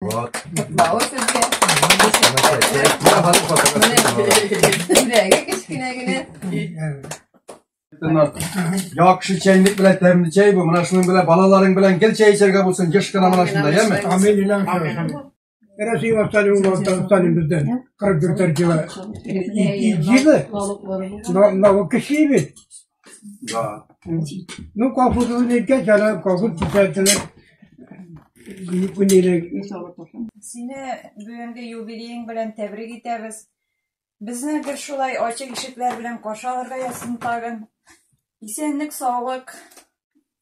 Рот. Бау сезгә. Күләге кечкенә генә. Яхшы чәйник белән тәмле чәй бу. Менә шуның белән балаларың белән гел чәй эчәргә булсын. Еш кына менә шунда, яме? Амин илан шәһәр. Рәсәй ваталин улан танысталин бездән. 44 җылы. Җылы. Налог кеши бит. Да. Ну, колхоз үлеткә чара, колхоз китәртелер. Күнелек. Сине бүгенге юбилеең белән тәбрик итәбез. Безне гел шулай ачык ишекләр белән каршы алырга язсын тагын. Исәнлек, саулык,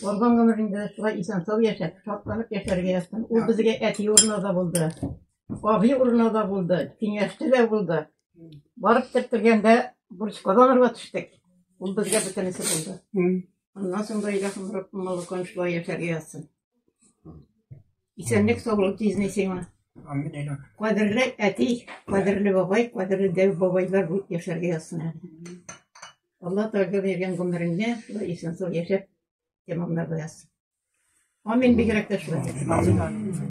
Барган гомерендә шулай исән-сау яшәп, шатланып яшәргә язсын. Ул безгә әти урыны да булды, абый урыны да булды, киңәшче дә булды. Барып кертергәндә бурычка да алырга төштек. Ул безгә бөтенесе булды. Аннан соң да Илаһым Раббым Аллакан шулай яшәргә язсын. Исәнлек, саулык тизни сиңа. Амин, Илаһ. Кадерле әти, кадерле бабай, кадерле дәү бабайлар булып яшәргә язсын. әле. Алла Тәгалә биргән гомереңне шулай исән-сау яшәп тәмамларга язсын. Амин бигрәк тә шулай.